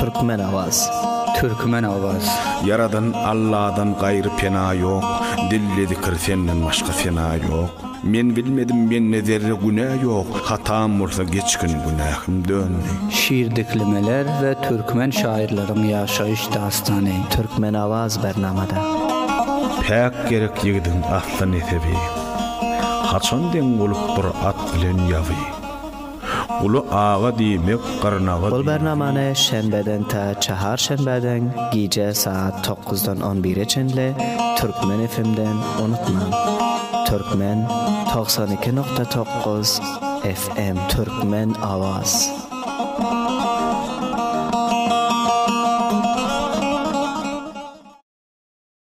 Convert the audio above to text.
Türkmen Awaz. Türkmen Awaz. Ýaradan Alladan gaýry pena ýok, Dilde zikir senden başga sena ýok. Men bilmedim mende zerre günä ýok, Hatam bolsa geçgin günähim döndi. Şir diklemeler we türkmen şaýyrlaryň ýaşaýyş dastany. Türkmen Awaz Bernamada. Päk gerek ýigidiň asly nesebi, Haçan deň bolup dur at bilen ýaby. Guly aga diýmek gyrnaga diýmek. Bul bernamany şenbeden ta çaharşenbädeň gije saat tokgyzdan on bire çenli Türkmen FM-den unutmaň! Türkmen togsan iki nokta tokgyz FM. Türkmen Awaz.